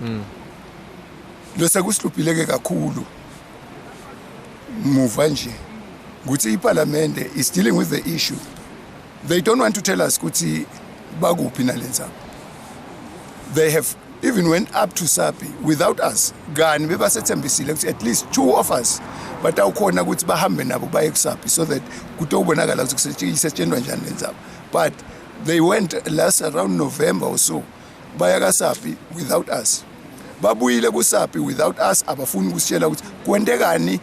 mm. lose kusihlupileke kakhulu muva nje ukuthi iparlamente is dealing with the issue they don't want to tell us ukuthi bakuphi nalenza they have even went up to sapi without us kani bebasethembisile ukuthi at least two of us batawukhona ukuthi bahambe nabo baye kusapi so that kutobonakala ukuthi kusetshenziswa njani lenzaba but they went last around november or so baya kasapi without us babuyile kusapi without us abafuni ukusitshela ukuthi kwentekani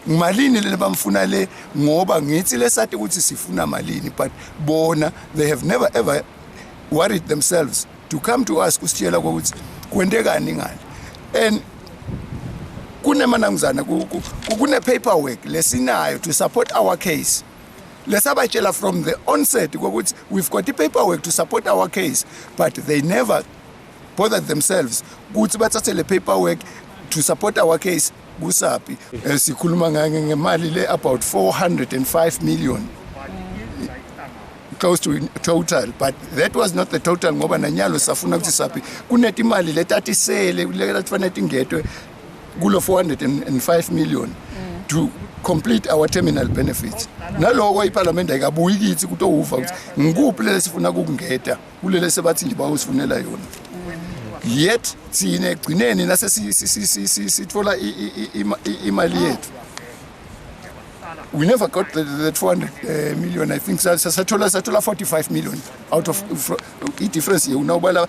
malini lena bamfuna le ngoba ngithi lesati ukuthi sifuna malini but bona they have never ever worried themselves to come to us kusitshela ukuthi kwentekani ngale and kunemananguzana kune paperwork lesinayo to support our case lesabatshela from the onset kokuthi we've got i-paperwork to support our case but they never bothered themselves ukuthi bathathe le paperwork to support our case kusapi eh, sikhuluma ngake ngemali le about 405 million close to total but that was not the total ngoba nanyalo safuna ukuthi sapi kunetimali letatisele letafanele tingedwe kulo 405 million mm. to complete our terminal benefits naloko iparliament ayikabuyi kithi kutowuva ukuthi ngikuphi lele sifuna kukungeda kulele sebathi ngiba usifunela yona yet thina egcineni nase sithola imali yethu we never got the, the 200 uh, million i think sathola sathola 45 million out of i difference yewuna ubala